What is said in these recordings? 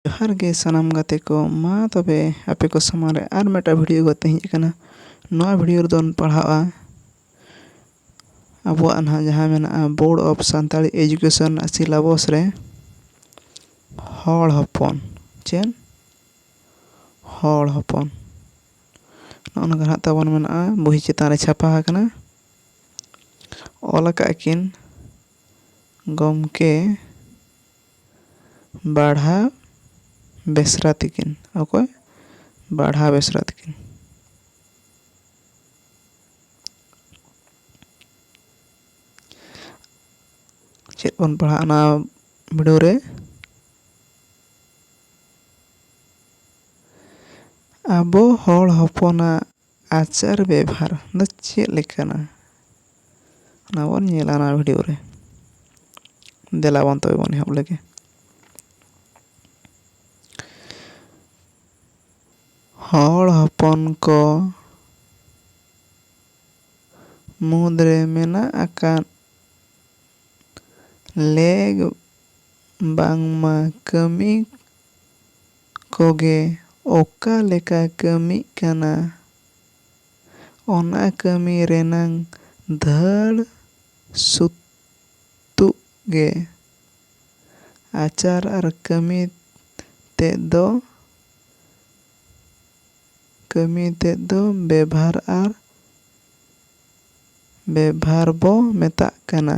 ᱡᱚᱦᱟᱨ ᱜᱮ ᱥᱟᱱᱟᱢ ᱜᱟᱛᱮ ᱠᱚ ᱢᱟ ᱛᱚᱵᱮ ᱟᱯᱮ ᱠᱚ ᱥᱟᱢᱟᱝ ᱨᱮ ᱟᱨ ᱢᱤᱫᱴᱟᱝ ᱵᱷᱤᱰᱤᱭᱳ ᱠᱟᱛᱮ ᱤᱧ ᱦᱮᱡ ᱟᱠᱟᱱᱟ ᱱᱚᱣᱟ ᱵᱷᱤᱰᱤᱭᱳ ᱨᱮᱫᱚ ᱵᱚᱱ ᱯᱟᱲᱦᱟᱜᱼᱟ ᱟᱵᱚᱣᱟᱜ ᱱᱟᱦᱟᱜ ᱡᱟᱦᱟᱸ ᱢᱮᱱᱟᱜᱼᱟ ᱵᱳᱨᱰ ᱚᱯᱷ ᱥᱟᱱᱛᱟᱲᱤ ᱮᱰᱩᱠᱮᱥᱚᱱ ᱨᱮᱱᱟᱜ ᱥᱤᱞᱟᱵᱚᱥ ᱨᱮ ᱦᱚᱲ ᱦᱚᱯᱚᱱ ᱪᱮᱫ ᱦᱚᱲ ᱦᱚᱯᱚᱱ ᱱᱚᱜᱼᱚ ᱱᱚᱝᱠᱟ ᱱᱟᱦᱟᱜ ᱛᱟᱵᱚᱱ ᱢᱮᱱᱟᱜᱼᱟ ᱵᱳᱭ ᱪᱮᱛᱟᱱ ᱨᱮ ᱪᱷᱟᱯᱟ ᱟᱠᱟᱱᱟ ᱚᱞ ᱟᱠᱟᱫ ᱟᱹᱠᱤᱱ ᱜᱚᱢᱠᱮ ᱵᱟᱲᱦᱟ ᱵᱮᱥᱨᱟ ᱛᱤᱠᱤᱱ᱾ ᱚᱠᱚᱭ? ᱵᱟᱲᱦᱟ ᱵᱮᱥᱨᱟ ᱛᱤᱠᱤᱱ᱾ ᱪᱮᱫ ᱵᱚᱱ ᱯᱟᱲᱦᱟᱜᱼᱟ ᱚᱱᱟ ᱵᱤᱰᱟᱹᱣ ᱨᱮ? ᱟᱵᱚ ᱦᱚᱲ ᱦᱚᱯᱚᱱᱟᱜ᱾ ᱟᱪᱟᱨ ᱵᱮᱵᱷᱟᱨ ᱫᱚ ᱪᱮᱫ ᱞᱮᱠᱟᱱᱟ ᱚᱱᱟ ᱵᱚᱱ ᱧᱮᱞᱟ ᱱᱚᱣᱟ ᱵᱷᱤᱰᱤᱭᱳ ᱨᱮ ᱫᱮᱞᱟ ᱵᱚᱱ ᱛᱚᱵᱮ ᱵᱚᱱ ᱮᱦᱚᱵ ᱞᱮᱜᱮ ᱦᱚᱲ ᱦᱚᱯᱚᱱ ᱠᱚ ᱢᱩᱫᱽ ᱨᱮ ᱢᱮᱱᱟᱜ ᱟᱠᱟᱫ ᱞᱮᱜᱽ ᱵᱟᱝᱢᱟ ᱠᱟᱹᱢᱤ ᱠᱚᱜᱮ ᱚᱠᱟ ᱞᱮᱠᱟ ᱠᱟᱹᱢᱤᱜ ᱠᱟᱱᱟ ᱚᱱᱟ ᱠᱟᱹᱢᱤ ᱨᱮᱱᱟᱝ ᱫᱷᱟᱹᱲ ᱥᱩᱛᱩᱜ ᱜᱮ ᱟᱪᱟᱨ ᱟᱨ ᱠᱟᱹᱢᱤ ᱛᱮᱫ ᱫᱚ ᱠᱟᱹᱢᱤ ᱛᱮᱫ ᱫᱚ ᱵᱮᱵᱷᱟᱨ ᱟᱨ ᱵᱮᱵᱷᱟᱨ ᱵᱚ ᱢᱮᱛᱟᱜ ᱠᱟᱱᱟ᱾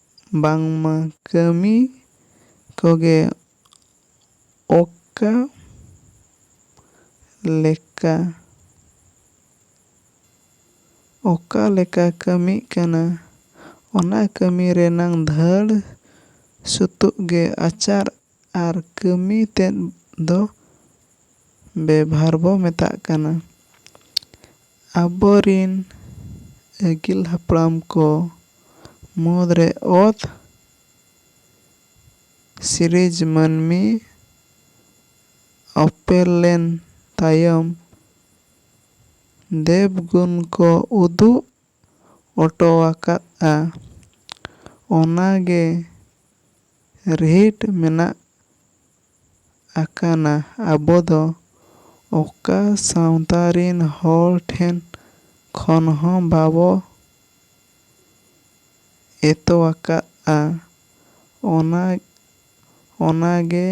ᱵᱟᱝᱢᱟ ᱠᱟᱹᱢᱤ ᱠᱚᱜᱮ ᱚᱠᱟ ᱞᱮᱠᱟ ᱚᱠᱟ ᱞᱮᱠᱟ ᱠᱟᱹᱢᱤᱜ ᱠᱟᱱᱟ ᱚᱱᱟ ᱠᱟᱹᱢᱤ ᱨᱮᱱᱟᱝ ᱫᱷᱟᱹᱲ ᱥᱩᱛᱩᱜ ᱜᱮ ᱟᱪᱟᱨ ᱟᱨ ᱠᱟᱹᱢᱤ ᱛᱮᱫ ᱫᱚ ᱵᱮᱵᱷᱟᱨ ᱵᱚ ᱢᱮᱛᱟᱜ ᱠᱟᱱᱟ᱾ ᱟᱵᱚ ᱨᱤᱱ ᱟᱹᱜᱤᱞ ᱦᱟᱯᱲᱟᱢ ᱠᱚ ᱢᱩᱫᱽ ᱨᱮ ᱚᱛ ᱥᱤᱨᱤᱡᱽ ᱢᱟᱹᱱᱢᱤ ᱚᱯᱮᱞ ᱞᱮᱱ ᱛᱟᱭᱚᱢ ᱫᱮᱵᱽᱜᱩᱱ ᱠᱚ ᱩᱫᱩᱜ ᱚᱴᱚ ᱟᱠᱟᱫᱼᱟ᱾ ᱚᱱᱟ ᱜᱮ ᱨᱤᱦᱤᱴ ᱢᱮᱱᱟᱜ ᱟᱠᱟᱱᱟ ᱟᱵᱚ ᱫᱚ ᱚᱠᱟ ᱥᱟᱶᱛᱟ ᱨᱤᱱ ᱦᱚᱲ ᱴᱷᱮᱱ ᱠᱷᱚᱱ ᱦᱚᱸ ᱵᱟᱵᱚ ᱮᱛᱚ ᱟᱠᱟᱫᱼᱟ᱾ ᱚᱱᱟ ᱚᱱᱟ ᱜᱮ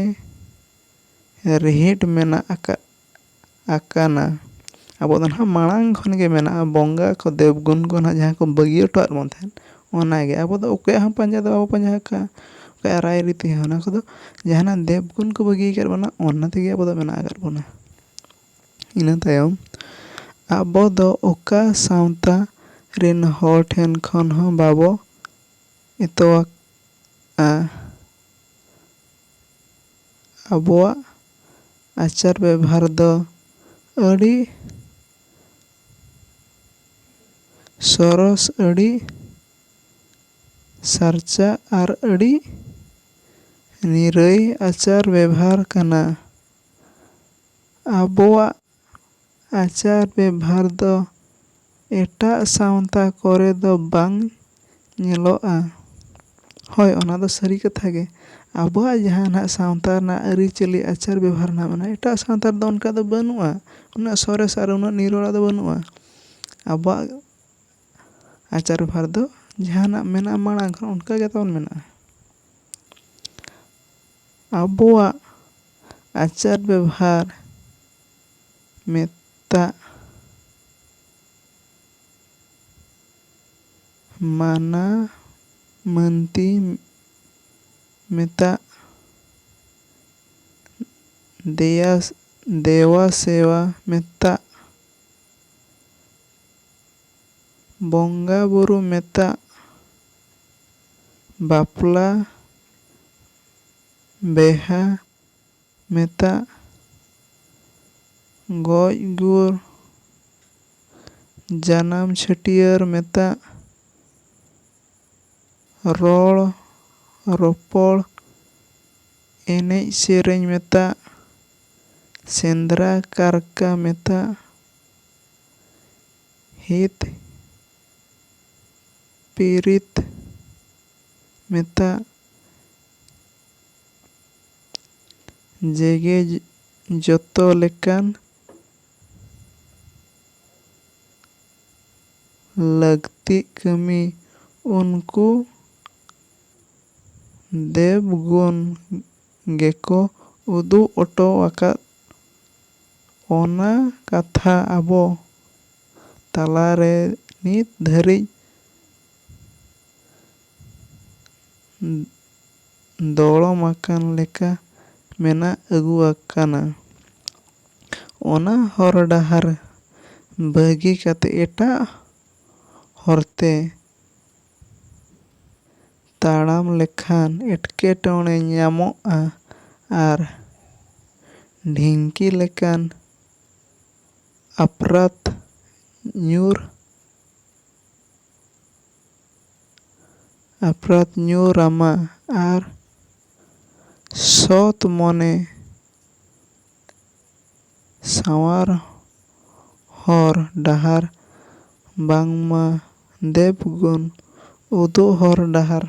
ᱨᱤᱦᱤᱴ ᱢᱮᱱᱟᱜ ᱟᱠᱟᱫᱼᱟ᱾ ᱟᱠᱟᱱᱟ᱾ ᱟᱵᱚᱣᱟᱜ ᱫᱚ ᱱᱟᱦᱟᱜ ᱢᱟᱲᱟᱝ ᱠᱷᱚᱱ ᱜᱮ ᱢᱮᱱᱟᱜᱼᱟ ᱵᱚᱸᱜᱟ ᱠᱚ ᱫᱮᱵᱽ ᱜᱩᱱ ᱠᱚ ᱱᱟᱦᱟᱜ ᱡᱟᱦᱟᱸ ᱠᱚ ᱵᱟᱹᱜᱤ ᱦᱚᱴᱚᱣᱟᱫ ᱵᱚᱱ ᱛᱟᱦᱮᱸᱫ ᱚᱱᱟ ᱜᱮ ᱟᱵᱚ ᱫᱚ ᱚᱠᱚᱭᱟᱜ ᱦᱚᱸ ᱯᱟᱸᱡᱟ ᱫᱚ ᱵᱟᱵᱚ ᱯᱟᱸᱡᱟ ᱟᱠᱟᱫᱼᱟ ᱚᱠᱚᱭᱟᱜ ᱨᱟᱭ ᱨᱤᱛ ᱦᱚᱸ ᱚᱱᱟ ᱠᱚᱫᱚ ᱡᱟᱦᱟᱱᱟᱜ ᱫᱮᱵᱽ ᱜᱩᱱ ᱠᱚ ᱵᱟᱹᱜᱤ ᱟᱠᱟᱫ ᱵᱚᱱᱟ ᱚᱱᱟ ᱛᱮᱜᱮ ᱟᱵᱚ ᱫᱚ ᱢᱮᱱᱟᱜ ᱟᱠᱟᱫ ᱵᱚᱱᱟ᱾ ᱤᱱᱟᱹ ᱛᱟᱭᱚᱢ ᱟᱵᱚ ᱫᱚ ᱚᱠᱟ ᱥᱟᱶᱛᱟ ᱨᱮᱱ ᱦᱚᱲ ᱴᱷᱮᱱ ᱠᱷᱚᱱ ᱦᱚᱸ ᱵᱟᱵᱚ ᱮᱛᱚᱣᱟᱜᱼᱟ᱾ ᱟᱵᱚᱣᱟᱜ ᱟᱪᱟᱨ ᱵᱮᱵᱷᱟᱨ ᱫᱚ ᱟᱹᱰᱤ ᱥᱚᱨᱚᱥ ᱟᱹᱰᱤ ᱥᱟᱨᱪᱟ ᱟᱨ ᱟᱹᱰᱤ ᱱᱤᱨᱟᱹᱭ ᱟᱪᱟᱨ ᱵᱮᱵᱷᱟᱨ ᱠᱟᱱᱟ ᱟᱵᱚᱣᱟᱜ ᱟᱪᱟᱨ ᱵᱮᱵᱷᱟᱨ ᱫᱚ ᱮᱴᱟᱜ ᱥᱟᱶᱛᱟ ᱠᱚᱨᱮ ᱫᱚ ᱵᱟᱝ ᱧᱮᱞᱚᱜᱼᱟ᱾ ᱦᱚᱭ ᱚᱱᱟ ᱫᱚ ᱥᱟᱹᱨᱤ ᱠᱟᱛᱷᱟ ᱜᱮ ᱟᱵᱚᱣᱟᱜ ᱡᱟᱦᱟᱸ ᱱᱟᱦᱟᱜ ᱥᱟᱶᱛᱟ ᱨᱮᱱᱟᱜ ᱟᱹᱨᱤᱪᱟᱹᱞᱤ ᱟᱪᱟᱨ ᱵᱮᱵᱷᱟᱨ ᱱᱟᱦᱟᱜ ᱢᱮᱱᱟᱜᱼᱟ ᱮᱴᱟᱜ ᱥᱟᱶᱛᱟ ᱨᱮᱫᱚ ᱚᱱᱠᱟ ᱫᱚ ᱵᱟᱹᱱᱩᱜᱼᱟ᱾ ᱩᱱᱟᱹᱜ ᱥᱚᱨᱮᱥ ᱟᱨ ᱩᱱᱟᱹᱜ ᱱᱤᱨᱚᱲᱟ ᱫᱚ ᱵᱟᱹᱱᱩᱜᱼᱟ᱾ ᱟᱵᱚᱣᱟᱜ ᱟᱪᱟᱨ ᱵᱮᱵᱷᱟᱨ ᱫᱚ ᱡᱟᱦᱟᱸ ᱱᱟᱦᱟᱜ ᱢᱮᱱᱟᱜᱼᱟ ᱢᱟᱲᱟᱝ ᱠᱷᱚᱱ ᱚᱱᱠᱟ ᱜᱮ ᱛᱟᱵᱚᱱ ᱢᱮᱱᱟᱜᱼᱟ᱾ ᱟᱵᱚᱣᱟᱜ ᱟᱪᱟᱨ ᱵᱮᱵᱷᱟᱨ ᱢᱮᱛᱟᱜ ᱢᱟᱱᱟ ᱢᱟᱹᱱᱛᱤ ᱢᱮᱛᱟᱜ ᱫᱮᱭᱟ ᱫᱮᱣᱟ ᱥᱮᱣᱟ ᱢᱮᱛᱟᱜ᱾ ᱵᱚᱝᱜᱟ ᱵᱩᱨᱩ ᱢᱮᱛᱟᱜ ᱵᱟᱯᱞᱟ ᱵᱮᱦᱟ ᱢᱮᱛᱟᱜ ᱜᱚᱡ ᱜᱩᱨ ᱡᱟᱱᱟᱢ ᱪᱷᱟᱹᱴᱭᱟᱹᱨ ᱢᱮᱛᱟᱜ ᱨᱚᱲ ᱨᱚᱯᱚᱲ ᱮᱱᱮᱡ ᱥᱮᱨᱮᱧ ᱢᱮᱛᱟᱜ ᱥᱮᱸᱫᱽᱨᱟ ᱠᱟᱨᱠᱟ ᱢᱮᱛᱟᱜ ᱦᱤᱛ ᱯᱤᱨᱤᱛ ᱢᱮᱛᱟᱜ ᱡᱮᱜᱮ ᱡᱚᱛᱚ ᱞᱮᱠᱟᱱ ᱞᱟᱹᱠᱛᱤᱜ ᱠᱟᱹᱢᱤ ᱩᱱᱠᱩ ᱫᱮᱵᱽᱜᱩᱱ ᱜᱮᱠᱚ ᱩᱫᱩᱜ ᱚᱴᱚ ᱟᱠᱟᱫ ᱚᱱᱟ ᱠᱟᱛᱷᱟ ᱟᱵᱚ ᱛᱟᱞᱟ ᱨᱮ ᱱᱤᱛ ᱫᱷᱟᱹᱨᱤᱡ ᱫᱚᱲᱚᱢ ᱟᱠᱟᱱ ᱞᱮᱠᱟ ᱢᱮᱱᱟᱜ ᱟᱹᱜᱩ ᱟᱠᱟᱱᱟ᱾ ᱚᱱᱟ ᱦᱚᱨ ᱰᱟᱦᱟᱨ ᱵᱟᱹᱜᱤ ᱠᱟᱛᱮ ᱮᱴᱟᱜ ᱦᱚᱨᱛᱮ᱾ ᱛᱟᱲᱟᱢ ᱞᱮᱠᱷᱟᱱ ᱮᱴᱠᱮᱴᱚᱬᱮ ᱧᱟᱢᱚᱜᱼᱟ ᱟᱨ ᱰᱷᱤᱝᱠᱤ ᱞᱮᱠᱟᱱ ᱟᱯᱨᱟᱛ ᱧᱩᱨ ᱟᱯᱨᱟᱛ ᱧᱩᱨ ᱟᱢᱟ ᱟᱨ ᱥᱚᱛ ᱢᱚᱱᱮ ᱥᱟᱶᱟᱨ ᱦᱚᱨ ᱰᱟᱦᱟᱨ ᱵᱟᱝᱢᱟ ᱫᱮᱵᱽᱜᱩᱱ ᱩᱫᱩᱜ ᱦᱚᱨ ᱰᱟᱦᱟᱨ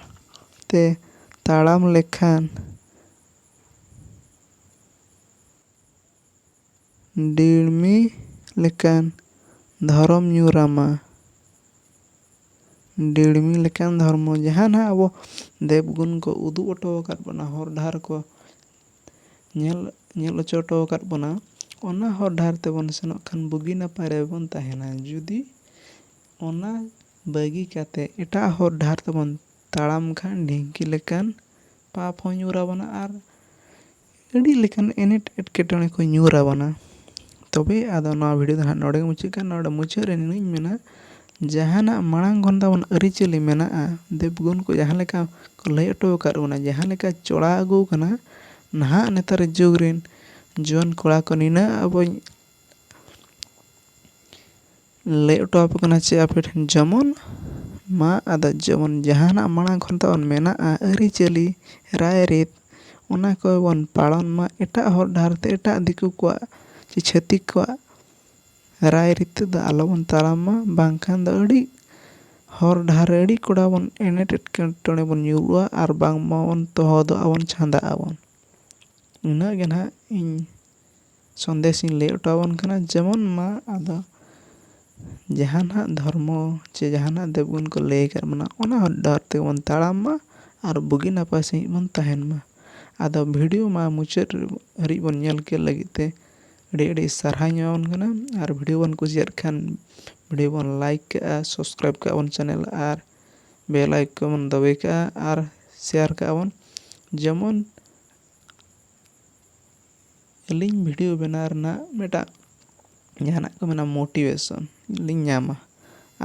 ᱛᱮ ᱛᱟᱲᱟᱢ ᱞᱮᱠᱷᱟᱱ ᱰᱤᱲᱢᱤ ᱞᱮᱠᱟᱱ ᱫᱷᱚᱨᱚᱢ ᱧᱩᱨ ᱟᱢᱟ᱾ ᱰᱤᱲᱢᱤ ᱞᱮᱠᱟᱱ ᱫᱷᱚᱨᱢᱚ ᱡᱟᱦᱟᱸ ᱱᱟᱦᱟᱜ ᱟᱵᱚ ᱫᱮᱵᱽᱜᱩᱱ ᱠᱚ ᱩᱫᱩᱜ ᱚᱴᱚ ᱟᱠᱟᱫ ᱵᱚᱱᱟ ᱦᱚᱨ ᱰᱟᱦᱟᱨ ᱠᱚ ᱧᱮᱞ ᱧᱮᱞ ᱦᱚᱪᱚ ᱦᱚᱴᱚ ᱟᱠᱟᱫ ᱵᱚᱱᱟ ᱚᱱᱟ ᱦᱚᱨ ᱰᱟᱦᱟᱨ ᱛᱮᱵᱚᱱ ᱥᱮᱱᱚᱜ ᱠᱷᱟᱱ ᱵᱩᱜᱤ ᱱᱟᱯᱟᱭ ᱨᱮᱵᱚᱱ ᱛᱟᱦᱮᱱᱟ ᱡᱩᱫᱤ ᱚᱱᱟ ᱵᱟᱹᱜᱤ ᱠᱟᱛᱮ ᱮᱴᱟᱜ ᱦᱚᱨ ᱰᱟᱦᱟᱨ ᱛᱮᱵᱚᱱ ᱛᱟᱲᱟᱢ ᱠᱷᱟᱱ ᱰᱷᱤᱝᱠᱤ ᱞᱮᱠᱟᱱ ᱯᱟᱯ ᱦᱚᱸ ᱧᱩᱨ ᱟᱵᱚᱱᱟ ᱟᱨ ᱟᱹᱰᱤ ᱞᱮᱠᱟᱱ ᱮᱱᱮᱴ ᱮᱴᱠᱮᱴᱚᱬᱮ ᱠᱚ ᱧᱩᱨ ᱟᱵᱚᱱᱟ ᱛᱚᱵᱮ ᱟᱫᱚ ᱱᱚᱣᱟ ᱵᱷᱤᱰᱭᱳ ᱫᱚ ᱦᱟᱸᱜ ᱱᱚᱰᱮ ᱜᱮ ᱢᱩᱪᱟᱹᱫ ᱠᱟᱱᱟ ᱱᱚᱰᱮ ᱢᱩᱪᱟᱹᱫ ᱨᱮ ᱱᱤᱱᱟᱹᱜ ᱤᱧ ᱢᱮᱱᱟ ᱡᱟᱦᱟᱱᱟᱜ ᱢᱟᱲᱟᱝ ᱠᱷᱚᱱ ᱛᱟᱵᱚᱱ ᱟᱹᱨᱤᱪᱟᱹᱞᱤ ᱢᱮᱱᱟᱜᱼᱟ ᱫᱮᱵᱽᱜᱩᱱ ᱠᱚ ᱡᱟᱦᱟᱸ ᱞᱮᱠᱟ ᱠᱚ ᱞᱟᱹᱭ ᱦᱚᱴᱚ ᱟᱠᱟᱫ ᱵᱚᱱᱟ ᱡᱟᱦᱟᱸ ᱞᱮᱠᱟ ᱪᱚᱲᱟᱣ ᱟᱹᱜᱩ ᱟᱠᱟᱱᱟ ᱱᱟᱦᱟᱜ ᱱᱮᱛᱟᱨ ᱡᱩᱜᱽ ᱨᱮᱱ ᱡᱩᱣᱟᱹᱱ ᱠᱚᱲᱟ ᱠᱚ ᱱᱤᱱᱟᱹᱜ ᱟᱵᱚᱧ ᱞᱟᱹᱭ ᱦᱚᱴᱚ ᱟᱯᱮ ᱠᱟᱱᱟ ᱪᱮ ᱟᱯᱮ ᱴᱷᱮᱱ ᱡᱮᱢᱚᱱ ᱢᱟ ᱟᱫᱚ ᱡᱮᱢᱚᱱ ᱡᱟᱦᱟᱱᱟᱜ ᱢᱟᱲᱟᱝ ᱠᱷᱚᱱ ᱛᱟᱵᱚᱱ ᱢᱮᱱᱟᱜᱼᱟ ᱟᱹᱨᱤᱪᱟᱹᱞᱤ ᱨᱟᱭᱨᱤᱛ ᱚᱱᱟ ᱠᱚᱵᱚᱱ ᱯᱟᱞᱚᱱ ᱢᱟ ᱮᱴᱟᱜ ᱦᱚᱨ ᱰᱟᱦᱟᱨ ᱛᱮ ᱮᱴᱟᱜ ᱫᱤᱠᱩ ᱠᱚᱣᱟᱜ ᱪᱮ ᱪᱷᱟᱹᱛᱤᱠ ᱠᱚᱣᱟᱜ ᱨᱟᱭ ᱨᱤᱛᱟᱹ ᱫᱚ ᱟᱞᱚ ᱵᱚᱱ ᱛᱟᱲᱟᱢ ᱢᱟ ᱵᱟᱝ ᱠᱷᱟᱱ ᱫᱚ ᱟᱹᱰᱤ ᱦᱚᱨ ᱰᱟᱦᱟᱨ ᱨᱮ ᱟᱹᱰᱤ ᱠᱚᱰᱟ ᱵᱚᱱ ᱮᱱᱮᱴ ᱮᱴᱠᱮᱴᱚᱬᱮ ᱵᱚᱱ ᱧᱩᱨᱩᱜᱼᱟ ᱟᱨ ᱵᱟᱝ ᱢᱟ ᱵᱚᱱ ᱛᱚᱦᱚᱫᱚᱜᱼᱟ ᱵᱚᱱ ᱪᱷᱟᱸᱫᱟᱜ ᱟᱵᱚᱱ ᱩᱱᱟᱹᱜ ᱜᱮ ᱱᱟᱦᱟᱜ ᱤᱧ ᱥᱚᱱᱫᱮᱥ ᱤᱧ ᱞᱟᱹᱭ ᱦᱚᱴᱚ ᱟᱵᱚᱱ ᱠᱟᱱᱟ ᱡᱮᱢᱚᱱ ᱢᱟ ᱟᱫᱚ ᱡᱟᱦᱟᱸ ᱱᱟᱦᱟᱜ ᱫᱷᱚᱨᱢᱚ ᱪᱮ ᱡᱟᱦᱟᱸ ᱱᱟᱦᱟᱜ ᱫᱮᱵᱽ ᱜᱩᱱ ᱠᱚ ᱞᱟᱹᱭ ᱟᱠᱟᱫ ᱵᱚᱱᱟ ᱚᱱᱟ ᱦᱚᱨ ᱰᱟᱦᱟᱨ ᱛᱮᱜᱮ ᱵᱚᱱ ᱛᱟᱲᱟᱢ ᱢᱟ ᱟᱨ ᱵᱩᱜᱤ ᱱᱟᱯᱟᱭ ᱥᱟᱺᱦᱤᱡ ᱵᱚᱱ ᱛᱟᱦᱮᱱ ᱢᱟ ᱟᱫᱚ ᱵᱷᱤᱰᱤᱭᱳ ᱢᱟ ᱢᱩᱪᱟᱹᱫ ᱦᱟᱹᱨᱤᱡ ᱵᱚᱱ ᱧᱮᱞ ᱠᱮᱫ ᱞᱟᱹᱜᱤᱫ ᱛᱮ ᱟᱹᱰᱤ ᱟᱹᱰᱤ ᱥᱟᱨᱦᱟᱣ ᱤᱧ ᱮᱢᱟᱵᱚᱱ ᱠᱟᱱᱟ ᱟᱨ ᱵᱷᱤᱰᱭᱳ ᱵᱚᱱ ᱠᱩᱥᱤᱭᱟᱜ ᱠᱷᱟᱱ ᱵᱷᱤᱰᱭᱳ ᱵᱚᱱ ᱞᱟᱭᱤᱠ ᱠᱟᱜᱼᱟ ᱥᱟᱵᱥᱠᱨᱟᱭᱤᱵᱽ ᱠᱟᱜᱼᱟ ᱵᱚᱱ ᱪᱮᱱᱮᱞ ᱟᱨ ᱵᱮᱞ ᱟᱭᱠᱚᱱ ᱵᱚᱱ ᱫᱟᱹᱵᱤ ᱠᱟᱜᱼᱟ ᱟᱨ ᱥᱮᱭᱟᱨ ᱠᱟᱜᱼᱟ ᱵᱚᱱ ᱡᱮᱢᱚᱱ ᱟᱹᱞᱤᱧ ᱵᱷᱤᱰᱭᱳ ᱵᱮᱱᱟᱣ ᱨᱮᱱᱟᱜ ᱢᱤᱫᱴᱟᱜ ᱡᱟᱦᱟᱱᱟᱜ ᱠᱚ ᱢᱮᱱᱟ ᱢᱳᱴᱤᱵᱷᱮᱥᱚᱱ ᱞᱤᱧ ᱧᱟᱢᱟ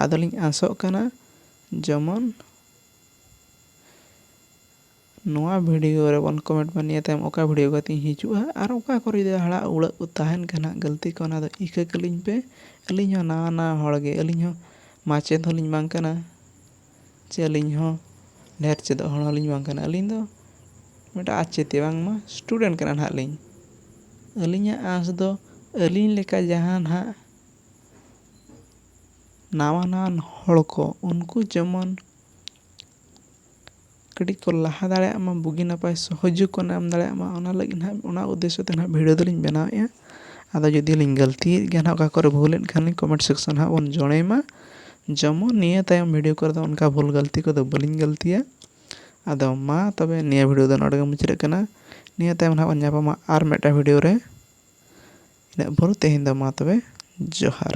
ᱟᱫᱚ ᱞᱤᱧ ᱟᱥᱚᱜ ᱠᱟᱱᱟ ᱡᱮᱢᱚᱱ ᱱᱚᱣᱟ ᱵᱷᱤᱰᱤᱭᱳ ᱨᱮ ᱵᱚᱱ ᱠᱚᱢᱮᱱᱴ ᱢᱟ ᱱᱤᱭᱟᱹ ᱛᱟᱭᱚᱢ ᱚᱠᱟ ᱵᱷᱤᱰᱤᱭᱳ ᱠᱟᱛᱮᱧ ᱦᱤᱡᱩᱜᱼᱟ ᱟᱨ ᱚᱠᱟ ᱠᱚᱨᱮ ᱡᱩᱫᱤ ᱦᱟᱲᱟᱜ ᱩᱲᱟᱹᱜ ᱠᱚ ᱛᱟᱦᱮᱱ ᱠᱷᱟᱱ ᱦᱟᱸᱜ ᱜᱟᱹᱞᱛᱤ ᱠᱚ ᱚᱱᱟ ᱫᱚ ᱤᱠᱟᱹ ᱠᱟᱹᱞᱤᱧ ᱯᱮ ᱟᱹᱞᱤᱧ ᱦᱚᱸ ᱱᱟᱣᱟ ᱱᱟᱣᱟ ᱦᱚᱲ ᱜᱮ ᱟᱹᱞᱤᱧ ᱦᱚᱸ ᱢᱟᱪᱮᱫ ᱦᱚᱸᱞᱤᱧ ᱵᱟᱝ ᱠᱟᱱᱟ ᱪᱮ ᱟᱹᱞᱤᱧ ᱦᱚᱸ ᱰᱷᱮᱨ ᱪᱮᱫᱚᱜ ᱦᱚᱲ ᱦᱚᱸᱞᱤᱧ ᱵᱟᱝ ᱠᱟᱱᱟ ᱟᱹᱞᱤᱧ ᱫᱚ ᱢᱤᱫᱴᱟᱝ ᱟᱪᱮᱫᱤᱭᱟᱹ ᱵᱟᱝᱢᱟ ᱥᱴᱩᱰᱮᱱᱴ ᱠᱟᱱᱟ ᱦᱟᱸᱜ ᱞᱤᱧ ᱟᱹᱞᱤᱧᱟᱜ ᱟᱸᱥ ᱫᱚ ᱟᱹᱞᱤᱧ ᱞᱮᱠᱟ ᱡᱟᱦᱟᱸ ᱦᱟᱸᱜ ᱱᱟᱣᱟ ᱱᱟᱣᱟᱱ ᱦᱚᱲ ᱠᱚ ᱩᱱᱠᱩ ᱡᱮᱢᱚᱱ ᱠᱟᱹᱴᱤᱡ ᱠᱚ ᱞᱟᱦᱟ ᱫᱟᱲᱮᱭᱟᱜ ᱢᱟ ᱵᱩᱜᱤ ᱱᱟᱯᱟᱭ ᱥᱚᱦᱚᱡᱳᱜᱽ ᱠᱚ ᱧᱟᱢ ᱫᱟᱲᱮᱭᱟᱜ ᱢᱟ ᱚᱱᱟ ᱞᱟᱹᱜᱤᱫ ᱦᱟᱸᱜ ᱚᱱᱟ ᱩᱫᱽᱫᱮᱥᱥᱚ ᱛᱮ ᱦᱟᱸᱜ ᱵᱷᱤᱰᱭᱳ ᱫᱚᱞᱤᱧ ᱵᱮᱱᱟᱣᱮᱜᱼᱟ ᱟᱫᱚ ᱡᱩᱫᱤ ᱞᱤᱧ ᱜᱟᱹᱞᱛᱤᱭᱮᱜ ᱜᱮᱭᱟ ᱦᱟᱸᱜ ᱚᱠᱟ ᱠᱚᱨᱮᱜ ᱵᱷᱩᱞᱮᱜ ᱠᱷᱟᱱ ᱞᱤᱧ ᱠᱚᱢᱮᱱᱴ ᱥᱮᱠᱥᱮᱱ ᱨᱮ ᱦᱟᱸᱜ ᱵᱚᱱ ᱡᱚᱲᱟᱭ ᱢᱟ ᱡᱮᱢᱚᱱ ᱱᱤᱭᱟᱹ ᱛᱟᱭᱚᱢ ᱵᱷᱤᱰᱭᱳ ᱠᱚᱨᱮ ᱫᱚ ᱚᱱᱠᱟ ᱵᱷᱩᱞ ᱜᱟᱹᱞᱛᱤ ᱠᱚᱫᱚ ᱵᱟᱹᱞᱤᱧ ᱜᱟᱹᱞᱛᱤᱭᱟ ᱟᱫᱚ ᱢᱟ ᱛᱚᱵᱮ ᱱᱤᱭᱟᱹ ᱵᱷᱤᱰᱭᱳ ᱫᱚ ᱱᱚᱰᱮ ᱜᱮ ᱢᱩᱪᱟᱹᱫᱚᱜ ᱠᱟᱱᱟ ᱱᱤᱭᱟᱹ ᱛᱟᱭᱚᱢ ᱦᱟᱸᱜ ᱵᱚᱱ ᱧᱟᱯᱟᱢᱟ ᱟᱨ ᱢᱤᱫᱴᱟᱱ ᱵᱷᱤᱰᱭᱳ ᱨᱮ ᱤᱱᱟᱹᱜ ᱵᱷᱳᱨ ᱛᱮᱦᱮᱧ ᱫᱚ ᱢᱟ ᱛᱚᱵᱮ ᱡᱚᱦᱟᱨ